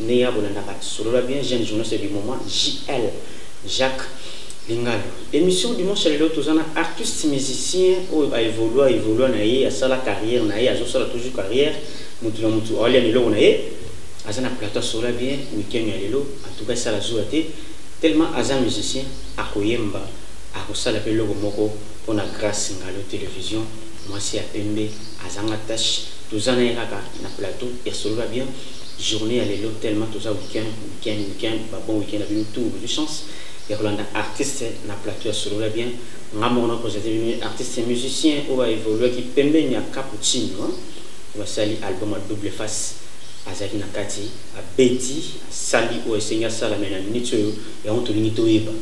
ndenge ya kolandaka solola bien jeune journaliste du moment JL Jacques Lingalo émission dimanche lelo toza na artiste musicien oyo a évolua évolua na ye asala carrière na ye azosala toujours carrière motu na motu aolia na eloko na ye aza na plateau asola bien week-end ya lelo en tout cas esala zuwa te tellement aza musicien akoyemba akosala mpe eloko moko mpo na grace ngalo télévision mwasi ya pembe azanga tache toza na ye kaka na plateau ya solola bien journee ya lelo tellement toza weekend weekend weekend ba bon weekend na bino tout bozwi chance ya kolanda artiste na plateau ya solola bien nga moko na présente bino artiste musicien oyo baévoluaki pembeni ya cappuccino hein. basali album ya double face azalaki na kati abeti asali oyo esengi asala me na minute oyo yango tolingi toyeba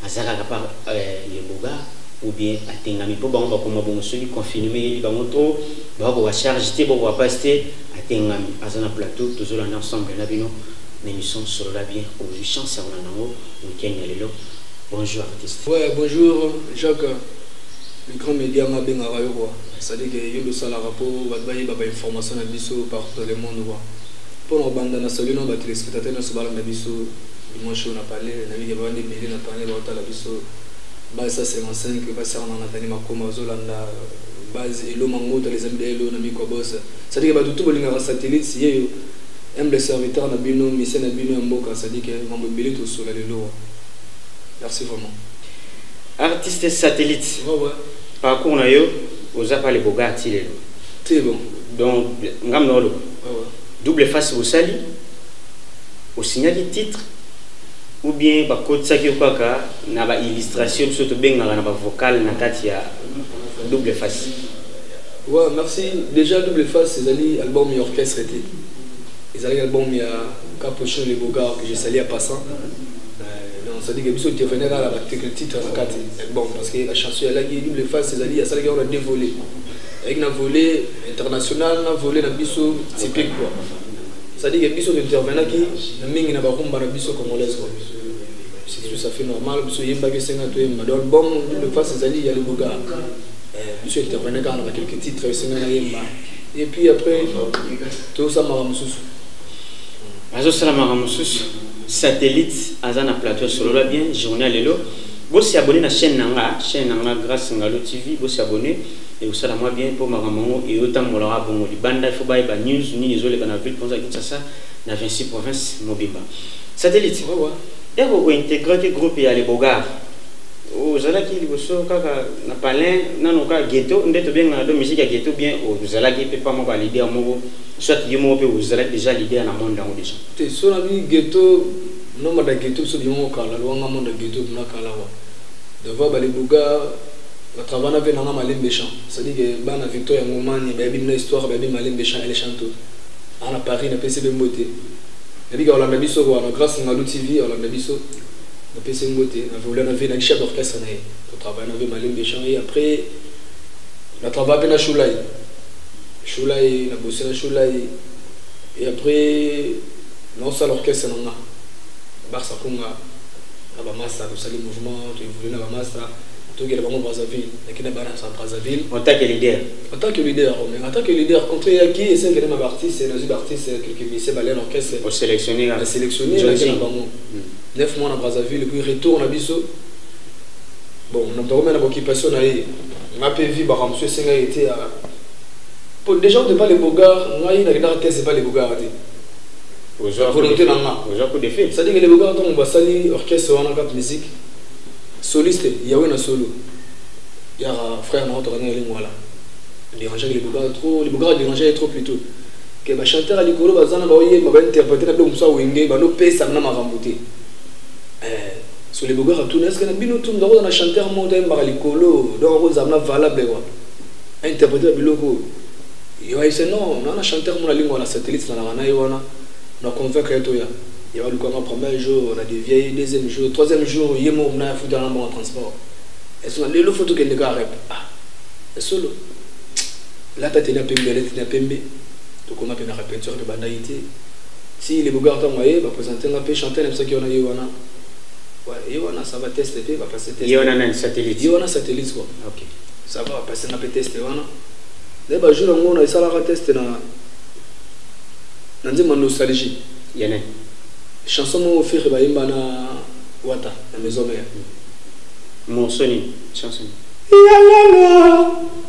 aza kaka par euh, leboga ou bien atengami mpo bango bakoma bongo soki confinement eyeli bango trop bakoka charge te bakoka mpasi te atengami aza na plateau tozolanda ensemble na bino na émission solola bien ozwi chance ya kolanda yango week-end ya lelo bonjour artiste ouais, bonjour jacques le grand média nga abengaka yo kua cestadire ke yo losalaka mpo bato bayeba bainformation na biso partout dans le monde kua mpo na kobanda na salu na batelespectateur nyonso balanda biso dimanche oyo na palais nayebike bawandi ebele na panel baotala biso base ya 55 basarana na tani makoma bazolanda base elo mango tala ezali belo na mikwa bose Sadike batu tout bolingaka satellite siyeyo humble serviteur na bino mise na bino ya mboka sadike mambo ebele tosola lelowa merci vraiment artiste satellite oh, ouais. parcours na yo oza pale boga ti lelo te bon donc ngam na oloba oh, ouais. double face osali osignaki titre ou bien bakotisaki yo kaka na baillustration biso tobengaka na bavocale na kati ya double face Wa merci dejà double face ezali album ya orchestre te ezalaki album ya Capuchin le Bogard que je salue à passant c'est-à-dire que biso intervenir kaka na batekle titre na kati bon parce que la chanson alaki double face ezali asalaki yango na deux volets ayaki na volet international na volet na biso typique quoi c'est-à-dire que biso tointervenaki na mingi na barumba na biso congolaise quoi c'est tout ça fait normal biso yembaki esenga toyemba donc album double face ezali ya leboga biso interpene kaka na bakelke titre esenga na yemba et puis après tosala makambo mosusu azosala makambo mosusu satellite aza na plateau solola bien journal lelo bosi abonné na chaîne na nga chaîne na nga grâce ngalo tv bosi abonné ekosala mwa bien mpo makambo yango eyotambolaka bongo libanda ifo bayeba news nini ezoleka na ville mponza kinshasa na 26 province mobimba satellite eko kointegraki groupe ya lebogard ozalaki liboso kaka na palin nano kaka ghetto nde tobengana do musique ya ghetto bien ozalaki mpe pa moko leader moko soit yo moko mpe ozalaki déjà leader na monde yango déjà te so na bi ghetto nomba da ghetto biso bino moko kala lwanga monde ya ghetto bina kala wa devoir bale buga batravana mpe nanga malembe champ c'est-à-dire que bana victoire ya ngomani bayebi bino histoire bayebi malembe champ ele chanto ana paris napesi bembo te nabika olanda biso wana grâce ngalu tv olanda biso Na pese mbote na veola na ve na kisha d'orchestre na ye. Na travaille na ve malembe chant et après na travaille pe na shulai. Shulai na bosse na shulai et après na osa l'orchestre na nga. Barça konga na ba masta to sali mouvement to évolue na ba masta tout que bango Brazzaville na kina bana sa Brazzaville en tant que leader en tant que leader oh, mais en tant que leader contre ya qui et c'est que ma artiste na artiste quelques musiciens balais l'orchestre au sélectionner la sélectionner na bango hmm. 9 mois na Brazzaville puis retour na biso bon na tokome na occupation na ye nga pe vie baka monsieur senga était à pour déjà on pas les bogards nga il na dans test pas les bogards te ozo volonté na nga ozo ko défi ça dit que les bogards on va salir orchestre on a cap musique soliste yawe na solo ya frère na to kana lingwala déranger les bogards trop les bogards déranger trop plutôt que ba chanteur ya likolo baza na baoyemba ba interprete na biloko mosusu ya wenge bando pesa na makambo te eh, solebogaka tuna eske na bino tu ndakoza na chanteur moko toyembaka likolo donc akozala na valable wa interprete ya biloko oyo yo ayise non na na chanteur mona lingua na satellite nalaka na ye wana na convaincre ye toya ye balukanga premier jour na devia ye deuxième jour troisième jour ye moko mna afutaka na mbongo transport esona lelo fo tokende kaka rep ah esolo lata tena pembe lati na pembe tokoma pe na repetition pe bandaki te si le bogar tango aye bapresente nga pe chanteur na bisaki wana ye wana ye wana ça va teste pe bapase teste ye wana nani satellite ye wana satellite quoi ok ça va bapase nga pe teste wana nde bajour yango na esalaka teste na na nzemba nostalgie yene chanson moko fere bayemba na wata na maison mère morceau nini chanson yalala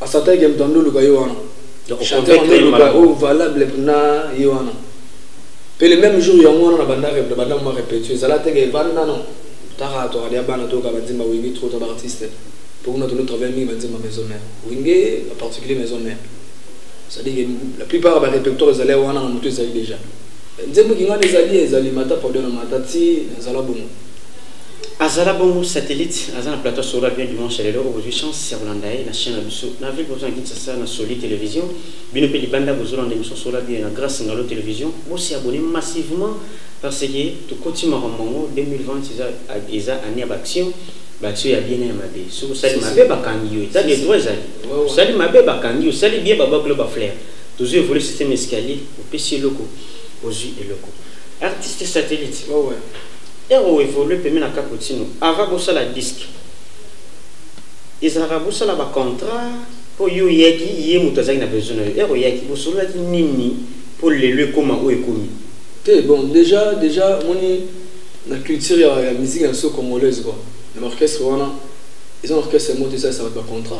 A sentait que moto ya ndoluka ye wana. Donc Chanteur ya oconvaincre ye ndoluka malamu. oyo valable na ye wana. Mpe le même jour yango wana nabanda rep- nabanda mwa repetio ezala te ke vanda non tala tokade ya bana toyoka banzemba wenge trop to baartiste mpo kuna tono travaille mingi banzemba maison mère wenge en particulier maison mère c'est-à-dire que la plupart ya barépertoire ezali ya wana na moto ezali déjà nzembo kinga wana ezali ezali mata pardon na mata ti ezala bongo azala bongo satellite aza na plateau sora bien dimanche ya lelo okozwi chance ya kolanda ye na chaine na biso na ville bozo na kinsasa na soli télévision bino mpe libanda bozolanda émission sora bien na grâce ngalo télévision bosi abonné massivement parce que tokoti makambo yango 2020 eza, eza année ya baaction baaction ya bien ya mabe soki osali mabe bakangi yo etat de droit ezali osali mabe bakangi yo osali bien babakolo baflaire tozwi évolue système escalier opesi eloko ozwi eloko artiste satellite oh, ouais. Heure o evolue pembeni na Cappuccino, avant bosala disc, ezalaka bosala ba contrat po yo oyaki ye moto azalaki na besoin na yo. Heure oyaki bosololaki nini po lelo ekoma oyo ekomi? Te bon dejà dejà omoni na culture ya, ya musique ya biso congolaise quoi na baorchestre wana eza na orchestre moko te esalisa bato bacontra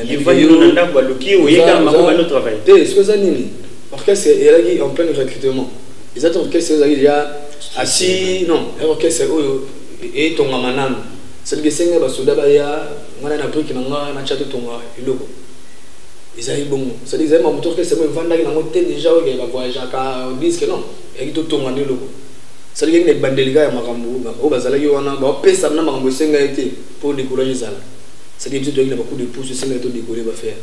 yevayino na ndako baluki oyekaka bango bano travail te soki eza nini orchestre eyalaki en pleine recrutement eza te orchestre ezali deja asi non ya orchestre oyo etongama nanu cetadire esengi basoda baya ngai na brike na ngai natya totonga eloko ezali bongo cetadire ezali mamoto orchestre mo evandaki nango te deja oyo kaka voyageaka diske non eyaki totonga nde eloko cetadire yaki na ebandeli kaka ya makambo oyo bazalaki wana bapesana na makambo esengaki te mpo decourage ezala cetadire biso toyaki na bacoup de pouce esengaki todekole bafere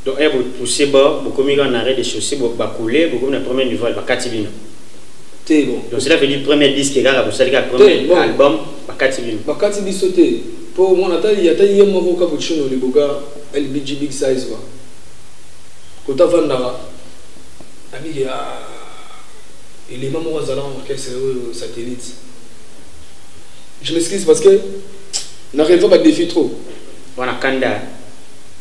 Donc eh bo pousser bord, bo komi kaka na arrêt de chaussée, bo ba couler, bo komi na premier niveau, ba kati bino. Te bon. Donc cela veut dire premier disque kaka bo sali kaka premier bon. album, ba kati bino. Ba kati biso te. Po mon atali ya tayi yemo ko cappuccino le boga LBG big size ba. Kota vandara. Abi ya elema moko azala na orchestre oyo satellite je m'excuse parce que na releva badéfi trop wana kanda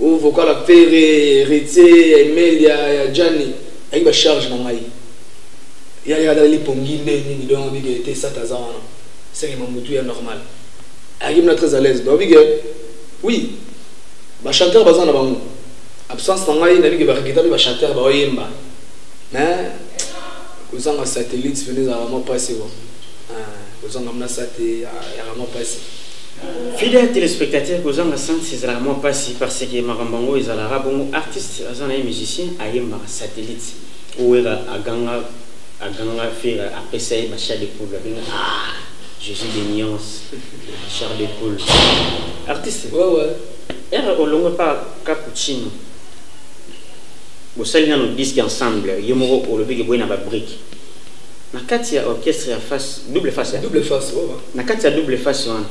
Oyo vocal ya Ferre, Heritier, ya Emel, ya ya Djani, ayaki ba charge na ngai. Ya ya dali pongi nde nini donc abi que te sata za wana. C'est que mamutu ya normal. Ayaki mna très à l'aise. Donc abi que oui, ba chanteur baza na bango. Absence na ngai na bi que ba regretter ba chanteur ba oyemba. Mais kozanga satellite venez à vraiment passer. Ah, kozanga mna sate ya vraiment passer. Fidèle telespectateur kozanga sens ezalaka mwa pasi parce que makambo yango ezalaka bongo artiste aza na ye musicien ayembaka satellite owera aganga aganga fera apesa ye bachar de poule abenga ah jésus de nuance char de poule artiste ouais, ouais. ere olongwe mpa cappuccino bosali nano diske ensemble ye moko olobi ke boye na babrike Na kati ya orchestre ya face double face ya double face oh, oh. Na kati ya double face wana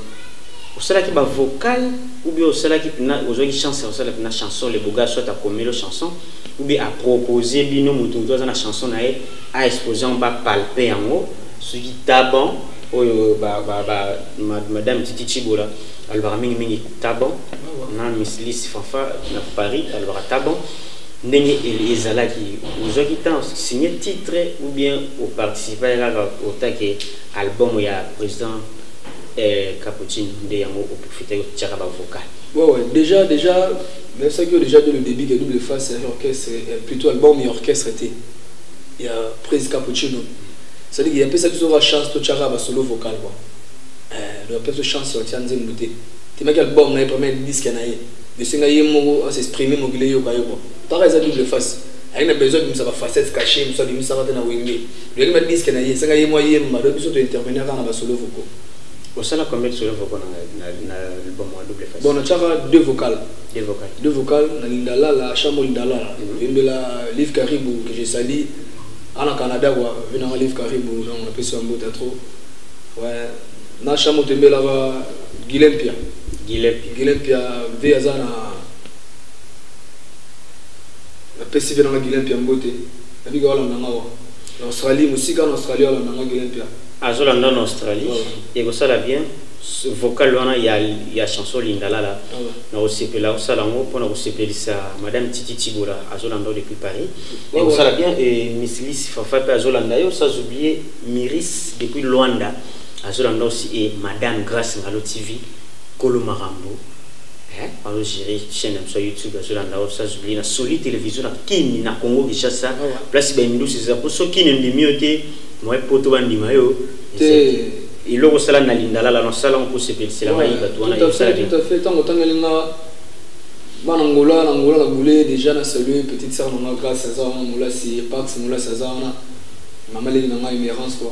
osalaki ba vocal ou bien osalaki pina ozwaki chance ya kosala pina chanson le boga soit akomelo chanson ou bien apropose bino moto moto aza na chanson na ye a expose yango bapalpe yango soki taban oyo ba, ba, ba, ma, madame titi chibola alobaka mingimingi taban na miss lise fanfa na paris alobaka taban ndenge ezalaki ozwaki temps signe titre ou bien oparticipa ya kaka otake album ya président eh, caputine nde yango oprofite otiaka bavocal ouais, ouais. déjà déjà nayebisaki yo déjà de le début ke double face ya orchestre eh, plutôt album ya orchestre te ya prise cappuccino cestadire ke apesaki biso kaka chance totyaka basolo vocal kua eh, apesa chance ya otya nzembo te temaki album na ye première diske na ye Bosenga ye moko a s'exprimer mokili eyoka ye quoi. Para eza double face. Aye na besoin abimisa ba facettes cachees mosusu abimisaka te na wenge. Lukaki ba disques na ye, senga ye mwa yemba donc biso to intervenir kaka na ba solos vocaux. Osala combien de solos vocaux na na na album wana double face? Bon na tiaka deux vocales. Deux vocales. Deux vocales na Linda Lala, Shamo Linda Lala. Mm -hmm. Yembela Liv Karibu que je salue. Ana Canada quoi, vina Liv Karibu donc na pesi mbote trop. Ouais. na shamo tembela ba gilempia gilempia gilempia mpe aza na napesi mpe nanga gilempia mbote nabika walanda nga wa na australie mosika na australie walanda nga gilempia azolanda na australie ekosala bien vocal wana ya, ya chanson lindalala ah na kosepela osala yango mpona kosepelisa madame titi tibola azolanda yo depuis paris ekosala bien e misilisi fafa mpe azolanda yo sans oublie miris depuis luanda azolanda aussi et madame Grace Ngalo TV Kolo Marambo hein azo gérer chaîne na biso YouTube azolanda yo sans oublier na Soli télévision na Kin na Congo Kinshasa ah place ba indusi eza po so Kin ndimi yo te moi poto ba ndima yo te eloko osala na lindalala na osala mpo osepelisela ngai bato wana ntango otangeli nga bana ngola na ngola na bule déjà na salue petite sœur na nga grace aza wana molasi pax molasi aza wana mama leli na ngai merance quoi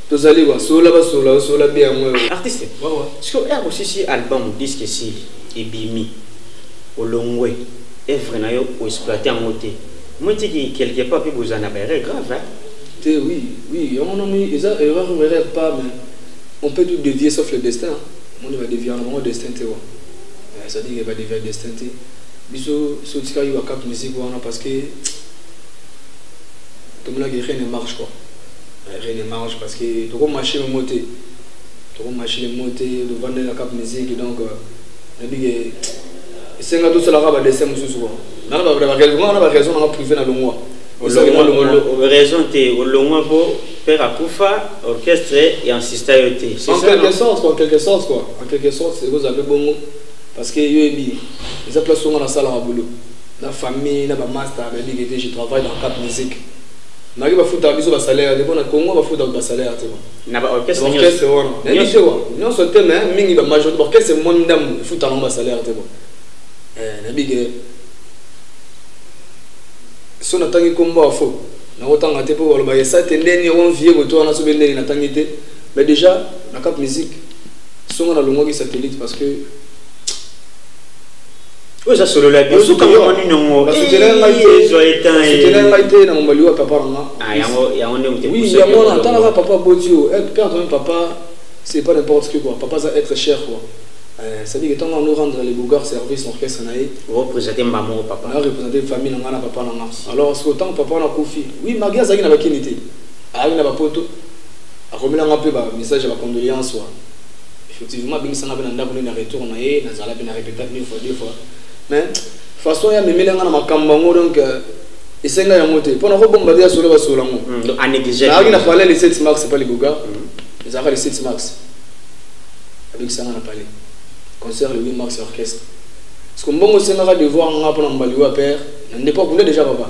tozali ba sola ba sola ba sola bien yango yo artiste wawa siko ya bosisi album disque sili ebimi olongwe evre na yo o exploiter yango te moi tiki quelque part pe bozana ba erreur grave hein te oui oui yango na moi eza erreur ou erreur pas mais on peut tout dévier sauf le destin on va dévier yango destin te wa ça dit que ba dévier destin te biso so tika yo cap musique wana parce que comme là rien ne marche quoi rien ne marche parce que toko marcher le moté toko marcher le moté le vendre la cap musique donc euh, na bige esenga tout cela va dessin mususu quoi na ba ba raison na ba raison na privé na longwa raison te olongwa po père akufa orchestre et insista yo te en quelque sorte quoi en quelque sorte quoi en quelque sorte c'est vous avez bongo parce que yo ebi eza place onga na sala ma boulot na famille na ba master ba bige te je travaille dans cap musique Nake bafutaka biso ba salaire te pona Congo bafutaka ba salaire te na ba orchestre ba orchestre wana na biso wa nyonso te mais mingi ba majorité ba orchestre mwa ndambu efutaka ngo ba salaire te bon eh na bige so natangi kombo ya fo nakotanga te mpo baloba esa te ndeni on vie koto wana sobe ndeni natangi te mais déjà na cap musique songo nalongwaki satellite parce que oyo eza solo la bio suka mwa nini yango basutelaka ngai te ezwa etan basutelaka ngai te na mobali wa papa na nga ah yango yango nde mote oui yango wana atalaka papa boti yo eh, père comme papa c'est pas n'importe quoi papa aza être cher quoi euh, c'est-à-dire que ntango rendre les bougard service na orchestre na ye orepresente mba moko papa na represente famille na ngai na papa na nga alors siko ntango papa wana akufi oui magi azalaki na bakini te ayaki na bapoto akomelanga mpe bamessage ya bacondoléance wana Effectivement abengisa nga pe na ndako nde na retour na ye nazala pe na repeta une fois deux fois mais façon ya memela nga na makambo yango donc euh, esenga yango te mpo nakobomba te ya solo basolo yango naaki na palais le 7 mars epa liboga mm. ezalaka le 7 mars abekisa nga na palais concert le 8 mars ya orchestre parce que mbongo esengaka devoir nga mpo na mbaliwa père na ndeko akunda déjà papa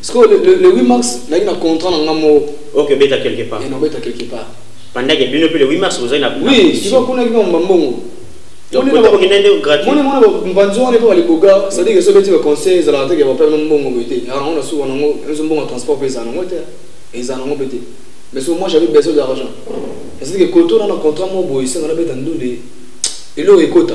Sikoyo le, le, le 8 mars nayaki na contrat na nga moko. Ok, beta quelque part. Et non beta quelque part. Pandaki bino pe le 8 mars bozali na Oui, kiko kuna kiko mbambongo. Moni mona ba mbanzi wana epa baliboga c'est-à-dire soki beti ba conseil ezalaka te ke bapela no mbongo boye te yango na suka nango enzo mbongo ya transport pe ezala nango te ezala nango pe te mais soki moi j'avais besoin d'argent c'est-à-dire ke koto na na contrat moko boye esenga nabeta ndule eloko ekota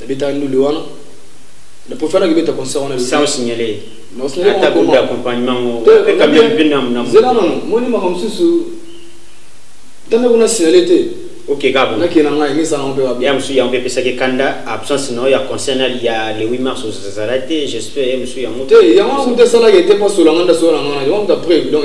nabetaka ndule wana na profite wana kibeta concert wana sans signaler na signaler ata groupe d'accompagnement ngo pe kamia pe na na zela non moni maka mususu tanda kuna signaler te ok kabo na kena ngai ngisa na mpe babia musu ya mpe pesa ke kanda absence na ya concert na ya le 8 mars aux Zazarate j'espère musu ya mute ya mwa mute sala ke te pas sur la nganda sur la ngana ya mwa mute après donc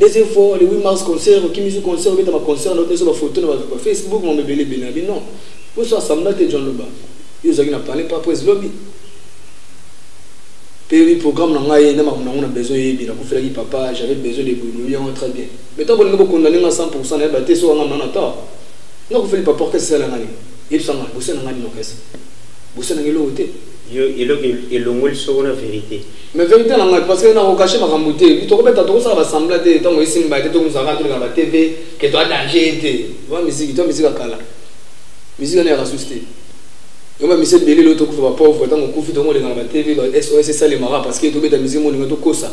deuxième fois le 8 mars concert okimi zu concert obeta ba concert na oteso ba photo na ba Facebook mon bebele bena bi non pour ça ça m'a te John Loba yo zaki na parler pas prise lobby puis programme na ngai na makambo nango na besoin yebi nakufelaki papa j'avais besoin de boulot yango très bien mais ntango bolingi bokondane nga 100 pourcent nayeba te so wanga nana ta nakufeli papa orkese esala ngai yebisa nga bosana ngai nini orkese bosana ngai eloko te eloko elongoli soko na verité mais verité na ngai parce que nako cacher makambo te tokobeta tokosala basembla te ntango esimba te tokozala toleka ba tv ke toa danger te ba miziki toa miziki ya kala miziki wana ya kasusi te yomba misi ebele lelo tokufa bapauvre ntango okufi tokoleka na ba tv ba sos esalemaka parce que tobeta miziki molinga tokosa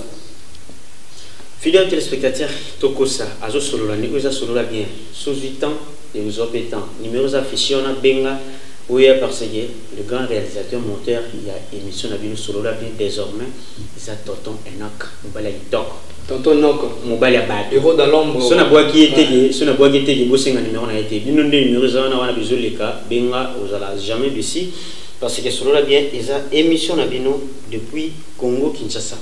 fidèle téléspectateur tokosa azosolola ndeko eza solola bien sozwi temps ekozwa mpe temps numéro eza affiché wana benga oya parce que Le grand realisateur moteur ya emission na bino solola bien désormais eza tonton Enoch mobali ya kitoko tonton Enoch mobali ya bato héros dans l'ombre so na bwaki ye teke so na bwaki ye teke bosenga numéro na ye te bino nde numéro eza wana wana bizoleka benga ozala jamais bisi parce que solola bien eza émission na bino depuis Congo Kinshasa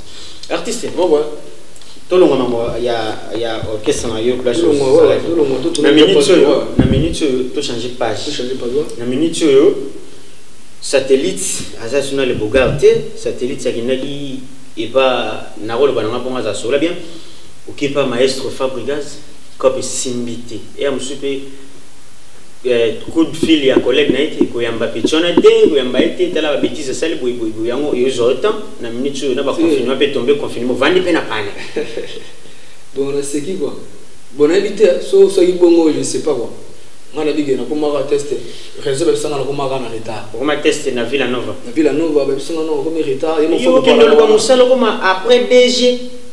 artiste bon bon tolonga mambo ya ya orchestre na yo place na minute oyo na minute oyo to changer page na minute oyo satellite aza suna le bogar te satellite akendaki epa nakoloba nanga mpongo aza sola bien okepa maestro fabrigas cope esimbi te eya mosusu mpe eh, coup de fil ya collègue na ye te koyamba petit wana te koyamba ye te tala babetise asali boyeboyeboye yango eozwa yo temps na minute oyo na baconfinement mpe tombe confinement ovandi mpe na pana bon naseki kua bon nayebi te so soki bongo je sais pas kua nga nabige nakomaka teste réseau babisanga nakomaka na retard okoma teste na villa nova na villa nova babisanga no okomi retard yokende oluka mosala okoma après dg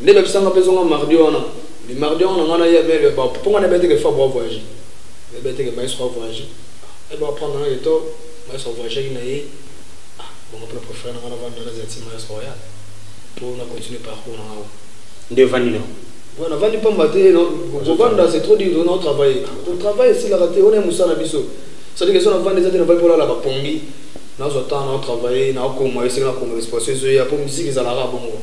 Nde ba bisanga pezo nga mardi wana. Bi mardi wana nga na ye mais le ba ponga na bete ke fa bo voyage. Le bete ke maestro voyage. Et ba prendre na yeto maestro voyage na ye. Ah, bon après préfère na nga na vanda na zati maestro ya. Pour na continuer parcours na nga. Nde vandi na. Ouais, na vandi pamba te non. Bo vanda c'est trop dur non travailler. Pour travailler c'est la raté on est musana biso. Ça dit que son vandi zati na va pour la ba pongi. Nazo temps na travailler na ko moi c'est na ko responsabilité ya pour musique ezalaka bongo.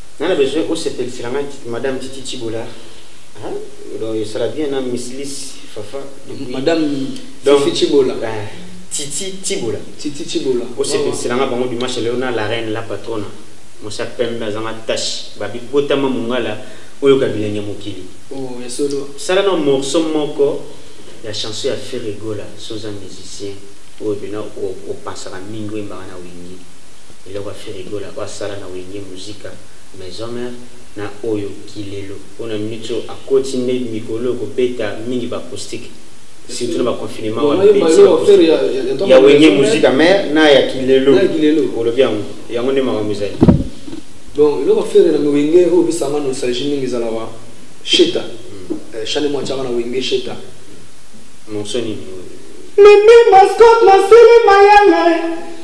Nga na besoin osepelisela nga madame Titi Tshibola. Hein? Donc esala bien na Miss Liss Fafa. Depuis... Madame Donc, Fifi Tshibola. Euh, Titi Tshibola. Titi Tshibola. Osepelisela nga bango dimanche lelo na la reine la patrona. Mosa pembe azanga tache. Babi botama mungala oyo kabilenge mokili. Oh, ya solo. Sala na morceau moko ya chanson ya Ferregola, soza musicien oyo bina opasaka mingi oyembaka na Wingi. Eloko ya ferre gola oyo asala na wenge musika maison mère na oyo kilelo oyo na minute oyo akoti nde mikolo oyo kobeta mingi ba acoustique surtout na ba confinement wana ebebisi ba acoustique ya wenge musika mère na ya kilelo olobi yango yango nde makambo ezali donc eloko ferre na wenge oyo bisanga nostalgie mingi ezalaka sheta hmm. eh, chane mwa tiaka na wenge sheta monsoni Mimi Mascot Masili Mayele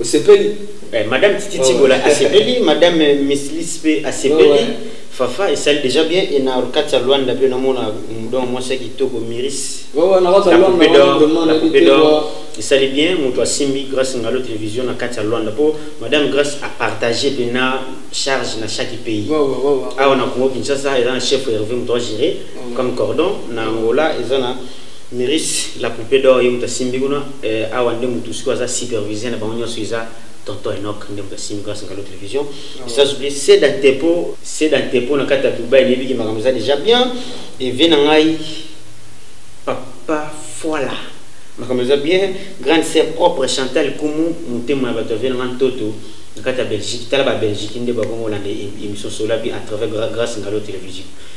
Osepeli? Eh, madame Titi oh, Tibola ouais. asepeli, madame Miss Liz pe asepeli. Oh, ouais. Fafa esali déjà bien et na orkati ya Luanda pe namona donc mwasi ya kitoko Miris. Oh, ouais, na kati ya Luanda vraiment na coupe d'or. Esali bien moto asimbi grâce ngalo télévision na kati ya Luanda po madame grâce a partager pe na charge na chaque pays. Ouais, ouais, ouais, ouais. Awa na Congo Kinshasa eza na chef Hervé moto a gérer ouais. comme cordon na Angola eza na Miris la poupee d'or ye mutu asimbi kuna eh, awa nde mutu sikoyo aza superviseur na bango nyonso eza tonton Enoch nde mutu asimbi kuna sangalo television ah ça s'oublie c'est dans tepo c'est dans tepo na kati ya Dubaï neyebi ki makambo eza déjà bien et vie na ngai papa foila makambo eza bien grande sœur propre Chantal Kumu motema ya bato ya vie na ngai ntoto na kati ya Belgique tala ba Belgique nde bakongo lande émission solabi à travers grâce ngalo television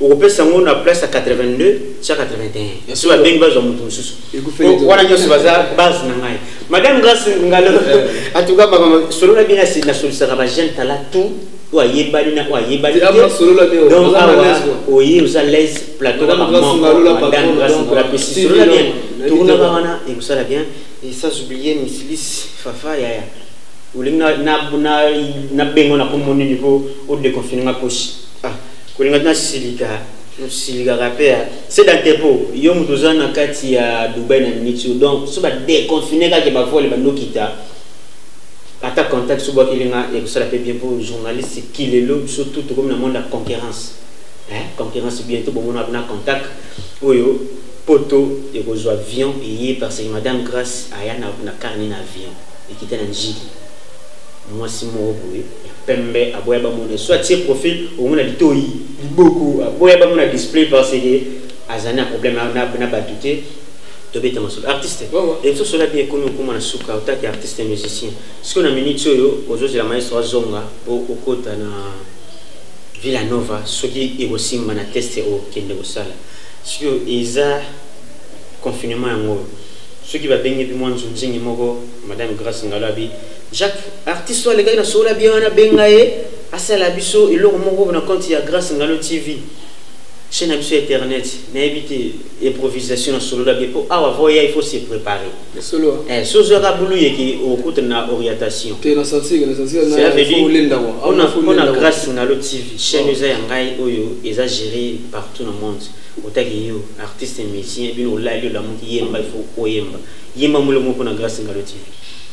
okopesa yango na place ya 82 tia 81 soki babengi bazwa moto mosusu wana nyonso baza base na ngai madame grace ngalo eh. atuka makambo solo na bino nasolisaka bajeune tala tout oyo ayebani na oyo ayebani donc awa oye oza laise plateau kaka moko madame grace ngalo apesi solo na bien tokunaka wana ekosala bien et sans oublier misilis fafa yaya olingi nabengo na kombo nini po odeconfine nga posi kolinga tuna silika silikaka mpe ya seda tepo yo moto oza na kati ya dubai na mitio donc so badeconfine kaka bavole bandokita ata contact so bwakeli nga ekosala mpe bien mpo journaliste kilelo biso tout tokomi na monde ya concurrence eh, concurrence bientôt bomona na contact oyo poto ekozwa avion eye parce que madame grace aya na, na carne na avion ekita na njili Mwasi moko boye ya pembe aboya bamona so atie profil ongo na litoyi liboko aboya bamona display parce que azali na problème na bato te tobeta masolo artiste ebiso sola bien ekomi okoma na suka otaki artiste musicien sikoyo na minute oyo ozozela maestro azonga po okota na villa nova soki ekosimba na teste okende kosala sikoyo eza confinement yango oyo soki babengi mpe mwa nzunzingi moko madame grace ngalo abi Jacques artiste oyo alekaki na sola bien wana abenga ye asala biso eloko moko na compte ya Grace Ngalo TV chaîne na biso ya internet nayebi te improvisation na solola bien mpo awa vo ya il faut se préparer eh, so ozwaka bulu yeke okutana na orientation mpona grace ngalo tv chaîne eza ya ngai oyo eza géré partout na monde otaki yo artiste musicien bino olali olamuki yemba il faut oyemba yemba molongo mpona grace ngalo tv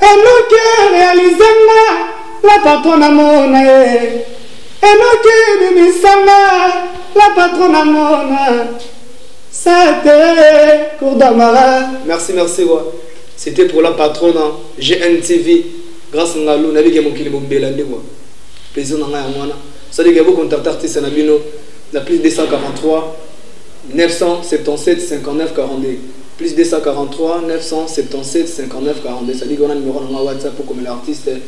Enoke realise nga la patron na mona ye Enoke bimisa nga la patron na mona Sate Kourdamara Merci merci wa C'était pour la patronne hein. GNTV grâce nga lu nabi ke mokili bombela nde moi plaisir na nga ya mwana sadi ke bo contact artiste na bino na plus 243 977 59 42 plus 243 977 59 42 sadiki wana numero na nga whatsapp okomela artiste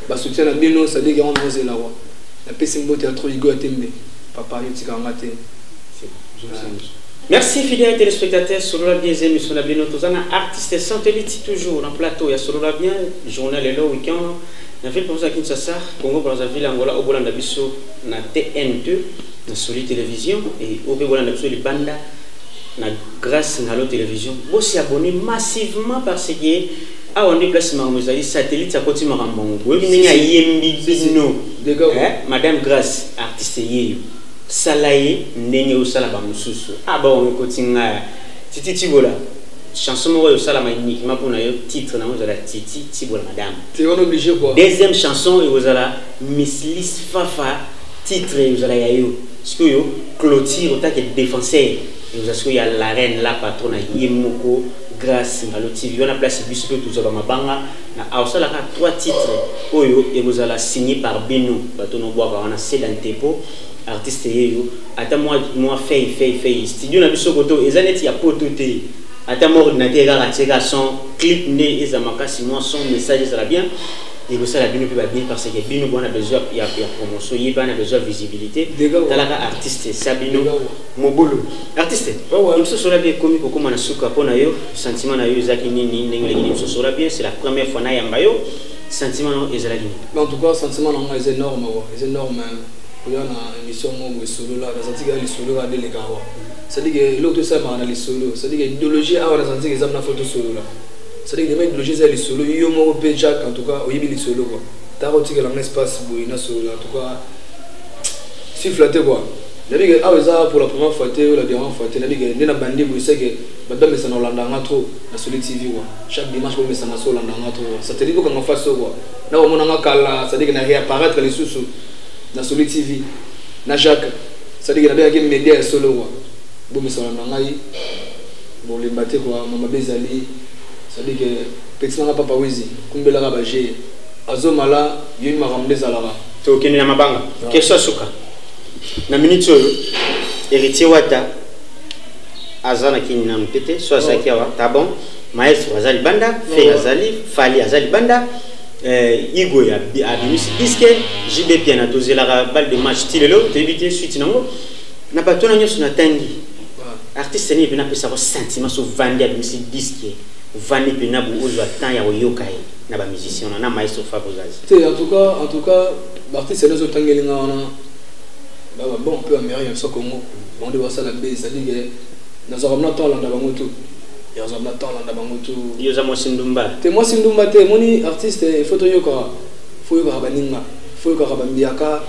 basoutien na bino sadiki yango naozela wa napesi mbote ya tro igo ya tembe papa yo tika yanga te Merci fidèles téléspectateurs, Solola bien aimé sur la bien Tozana artiste satellite toujours en plateau. Il y a Solola bien, journal et le week-end. Na ville pour ça Kinshasa, Congo Brazzaville, Angola, Obola Nabiso, na TN2, na Soli Télévision et Obe Bola Nabiso Libanda. na grace na allo television bo se abonner massivement parce que awa nde place makambo ezali satellite akoti makambo yango boyebi ndenge ayembi bino eh, madame grace artiste yeyo sala ye ndenge osala bamosusu ah, bawango ekoti ngai titi tibola chanson moko oyo osalama uniquement mpo na yo titre nango ezala titi tibola madame deuxième chanson ekozala mislis fafa titre ezala ya yo Sikoyo cloture otake defenseur ekozala sikoyo ya la reine la patrona ye moko Grace Ngalo TV wana place biso mpe tozwa bamabanga na aosala kaka trois titres oyo ekozala signe par bino bato nobwaka wana seda ntepo artiste yeyo ata mwa mwa fei fei fei studio na biso koto eza neti ya poto te ata mwa ordinateur kaka tie kaka son clip nde eza makasi mwa son message ezala bien ekosala bino mpe babini parce que bino bwana besoin ya, ya promotion ye bana besoin visibilité talaka artiste sa bino mobulu artiste biso sola bien ekomi kokóma na suka mpo na yo sentiment na yo ezalaki nini ndenge oleki biso sola bien c'est la première fois nayamba yo sentiment nango ezalaki nini en tout cas sentiment nango eza énorme wa eza énorme koya na émission moko boye solola nazalaki kaka lisolo kaka deleka wa c'est à dire que eloko tosalamaka na lisolo c'est à dire que idéologie awa nazalaki eza mna fo tosolola C'est-à-dire que vraiment idéologie eza lisolo yo moko pe Jack en tout cas oyebi lisolo quoi. T'as ko tikela nga espace boye na solo en tout cas si flatté quoi. Nabi que ah eza pour la première fois te la dernière fois te nabi que nde na bandi boye c'est que ba ba mesa na Hollande nga trop na solo TV quoi. Chaque dimanche ko mesa na solo Hollande nga trop. Ça te dit ko nga face quoi. Na ko mona nga kala c'est-à-dire que na réapparaître les sous na solo TV na Jacques c'est-à-dire que nabi que média solo quoi. Bo mesa na ngai Bo lemba te quoi ma mabe ezali ça veut dire que petit na nga papa wizi kumbela ka ba jeux azo mala yo makambo nde ezalaka to kende na mabanga ah. question suka na minute oyo héritier wata aza na kini nanu te te so azalaki awa ta bon maestro aza libanda fe azali fali aza libanda eh, igo abimisi diske jb piana tozelaka balle de match ti lelo toyebi te suite nango na bato na nyonso natangi Artiste nini pena pesa ko sentiment so vandi abimisi disque vandi pena bo ozwa temps ya koyoka ye na ba musiciens na na maestro Fabio Zazi. Te en tout cas en tout cas ba artiste nazo tangeli nga wana ba ba bon peu américain so Congo bon de basala be ça dit que nazo ramna temps landa bango tout. Ya zo ramna temps landa bango tout. Yo za mo sindumba. Te mo sindumba te moni artiste il faut to yoka faut yoka ba ninga faut yoka ba mbiaka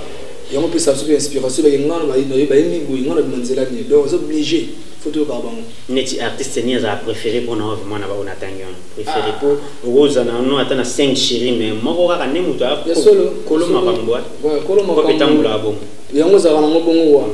yango mpe sa soki inspiration ebake ngai naye baye miboye ngai na bima nzela nini donc oza oblige fo toyokaka bango neti artiste ni azala préféré mpo na ove mwana baoyo natangi wana préféré mpo ah. okozala na no ata na 5 chéri mais moko kaka nde moto akolo makambo kolo makambo etambolaka bongo yango ozalaka nango bongo wana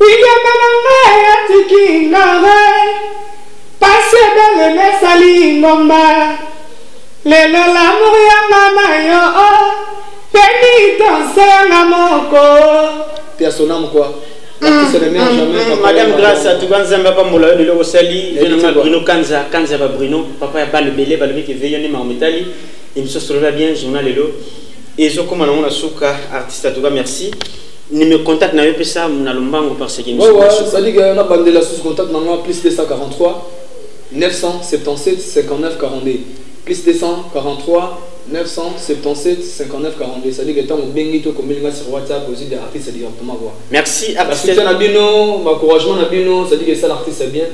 Lingenda na nga atiki nga eh. Pasi ebele mesali ngomba Lelo l'amour ya nga na yo oh. Penitence ya nga moko Personnam quoi madame grace atuka nzambe apambola yo lelo osali venanga bruno kanza kanza ba bruno papa ya bale bele balobi ke veyo nde makambo etali emission solola bien journal lelo ezokoma nango na suka artiste atuka merci Numéro contact na yo pesa na lombango par ce que Ouais ouais, ça dit que na bandela sous contact na moi plus 243 977 59 42 plus 243 977 59 42 ça dit que tant au bengi to kombeli nga sur WhatsApp aussi des artistes directement quoi. Merci artiste. Merci na bino, encouragement na bino, ça dit que ça l'artiste bien.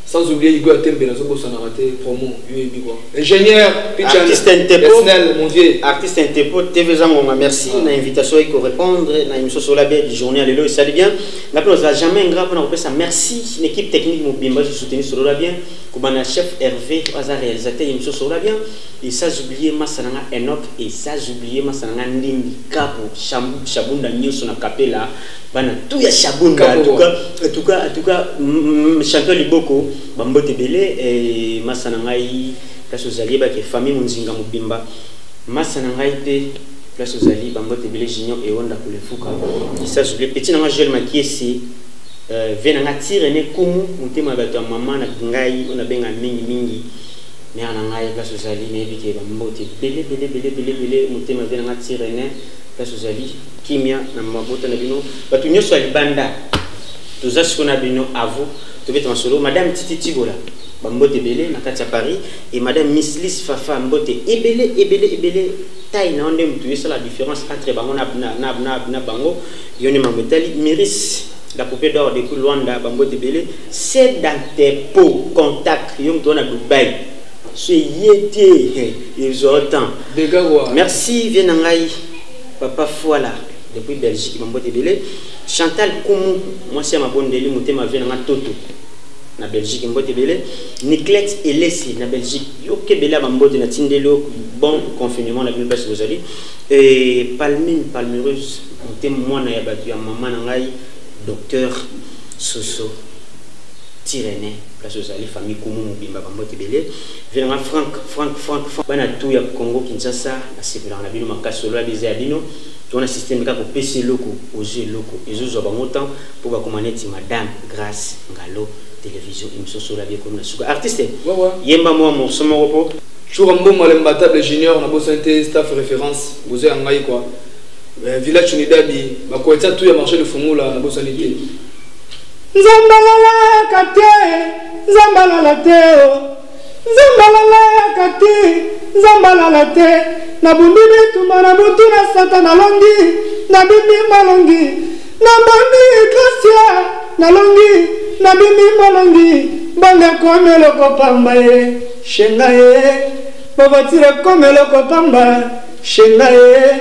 Sans oublier Igwe Atembe, nazo bosanaka te promo, yo ebi quoi. Ingénieur, Pichan, artiste Ntepo, Esnel, mon vieux. Artiste Ntepo, TV Zangonga, merci ah. na invitation eko répondre na émission sur la bien du journée lelo et salut bien. Na pino za jamais ingrat pona ko pesa merci l'équipe technique mobimba je soutenu sur la bien. Kobana chef Hervé, aza réalisateur émission sur la bien. Et ça oublier Masananga Enoch et ça oublier Masananga Ndimbi Kapo, Shabunda Nyoso na Kapela. bana tout ya shabunda en tout cas en tout cas en tout cas mm, mm, champion liboko ba mbote belé et massa na ngai place ozali ba ke famille munzinga mobimba massa na ngai pe place ozali ba mbote belé junior et onda ko le fuka ça je le petit na ngai Joël Makiesi euh, vie na ngai tire ne kumu motema bato ya mama na ngai ona benga mingi mingi mère na ngai place ozali nayebi ke ba mbote belé belé belé belé belé motema vie na ngai tire ne Place ozali kimia na mabota na bino bato nyonso ya libanda toza siko na bino avo tobeta masolo madame titi tibola bambote ebele na kati ya paris e madame mislis fafa mbote ebele ebele ebele tai na yo nde motu esala différence entre bango na, na, na, na, na bango yo nde mambo etali miris la poupée d'or depuis luanda bambote ebele sedantepo contact yo moto wana dubai Ce yete ils ont temps. Merci viens nangai papa Fouala depuis Belgique mambo de belé. Chantal Koumou moi c'est ma bonne deli motema viens nangai toto na Belgique mbote belé. Niclette Elesi na Belgique yo kebela mambo de na tindelo bon confinement na bino place bozali et Palmine Palmereuse motema mwana ya batu ya maman nangai docteur Soso Tirene place ozali famille kumu mobimba bambote ebele venanga frank frank frank frank bana tu ya congo kinshasa nasepelaka na bino makasi solo ya biza ya bino tona systeme kaka kopesa eloko ozwi eloko ezozwa bango temps mpo bakoma neti madame grace ngalo television émission solo ya biekomi na suka artiste yemba mwa morceau moko mpo chura mbongo le mbatable junior na bosani te staff référence bozo ya ngai kua eh, village unidadi bakoetsa tu ya marché de fungula na bosani te Nzambe alalaka te, Nzambe alala te o. Nzambe alalaka te, Nzambe alala te. Nabundi bitumba na butu na sata nalongi, nabimi malongi. Nabondi gracia nalongi, nabimi malongi. Mbongo ekomi eloko pamba ye, shenga ye. Bovatire ekomi eloko pamba, shenga ye.